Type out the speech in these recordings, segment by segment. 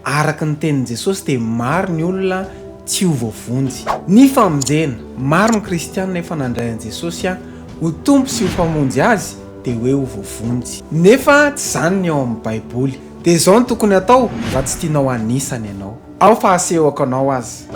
Araka ny tenin'i Jesosy dia maro ny olona tsy ho voavonjy. Ny famonjena. Maro ny kristiana efa nandray an'i Jesosy ho Tompo sy ho Mpamonjy azy dia hoe ho voavonjy. Nefa tsy izany ny ao amin'ny Baiboly. Dia izao no tokony hatao raha tsy tianao anisany ianao. Ao fa hasehoko anao aza.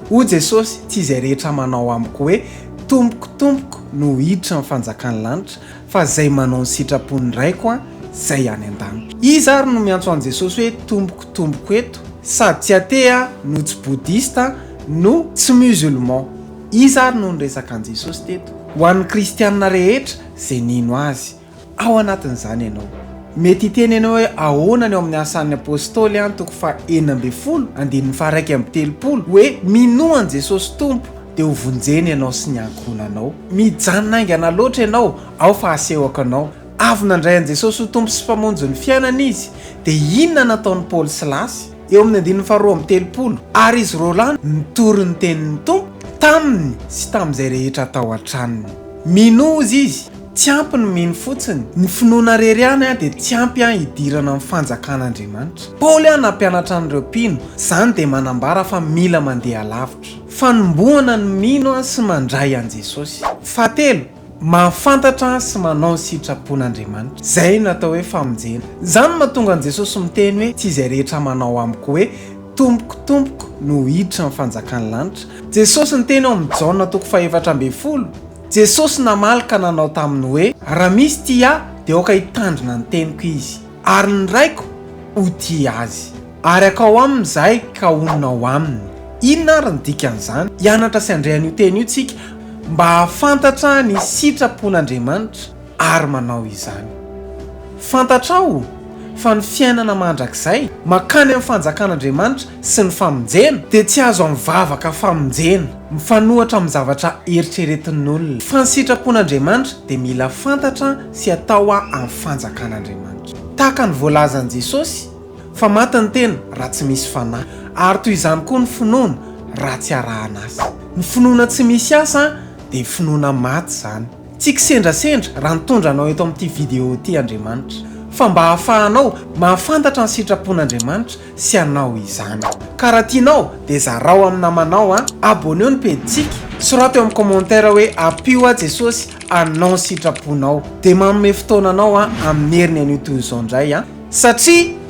Hoy Jesosy, Tsy izay rehetra manao amiko hoe, Tompoko, Tompoko, no hiditra ny fanjakan'ny lanitra, fa izay manao ny sitrapon'ny Raiko izay any an-danitra. Iza ary no miantso an'i Jesosy hoe tompoko, tompoko eto? Sady tsy athée aho, no tsy bouddhiste, no tsy musulman. Iza ary no niresaka an'i Jesosy teto? Ho an'ny kristiana rehetra izay nino Azy. Ao anatin'izany ianao. Mety hiteny ianao hoe, Ahoana ny ao amin'ny Asan'ny Apôstôly an, toko faha enina ambin'ny folo, andininy faha iraika amby telopolo, hoe, Minoa an'i Jesôsy Tompo, dia hovonjena ianao sy ny ankohonanao. Mijanona haingana loatra ianao, ao fa hasehoko anao. Avy nandray an'i Jesôsy ho Tompo sy Mpamonjy ny fiainany izy, dia inona nataon'i Paoly sy Lasy? Eo amin'ny andininy faha roa amby telopolo, Ary izy roa lahy nitory ny tenin'ny Tompo taminy sy tamin'izay rehetra tao an-tranony. Minoa, hozy izy. Tsy ampy ny mino fotsiny. Ny finoana rery ihany dia tsy ampy hidirana amin'ny fanjakan'Andriamanitra. Paoly nampianatra an'ireo mpino, izany dia manambara fa mila mandeha lavitra. Fanombohana ny mino sy mandray an'i Jesosy. Fahatelo, mahafantatra sy manao ny sitrapon'Andriamanitra. Izay no atao hoe famonjena. Izany no mahatonga an'i Jesosy miteny hoe, Tsy izay rehetra manao amiko hoe, Tompoko, Tompoko, no hiditra ny fanjakan'ny lanitra. Jesosy niteny ao amin'ny Jaona toko fahefatra ambin'ny folo, Jesosy namaly ka nanao taminy hoe, Raha misy tia Ahy, dia aoka hitandrina ny teniko izy, ary ny Raiko ho tia azy. Ary hakao aminy Izahay ka honina ao aminy. Inona ary ny dikan'izany? Hianatra sy handre an'io teny io isika mba hahafantatra ny sitrapon'Andriamanitra. ary manao izany. Fantatrao fa ny fiainana mandrakizay, mankany amin'ny fanjakan'Andriamanitra sy ny famonjena, dia tsy azo amin'ny vavaka famonjena mifanohitra amin'ny zavatra eritreretin'olona. Fa ny sitrapon'Andriamanitra dia mila fantatra sy atao amin'ny fanjakan'Andriamanitra. Tahaka ny voalazan'i Jesosy, fa maty ny tena raha tsy misy fanahy, ary toy izany koa ny finoana raha tsy arahan'asa. Ny finoana tsy misy asa dia finoana maty izany. Tsy kisendrasendra raha nitondra anao eto amin'ity video ity Andriamanitra, fa mba hahafahanao mahafantatra ny sitrapon'Andriamanitra sy hanao izany. Ka raha tianao dia zarao amin'ny namanao an! Abonneo ny pejintsika, soraty eo amin'ny commentaire hoe Ampio aho Jesosy hanao ny sitraponao, dia manome fotoana anao amin'ny heriny anio toy izao indray an! Satria.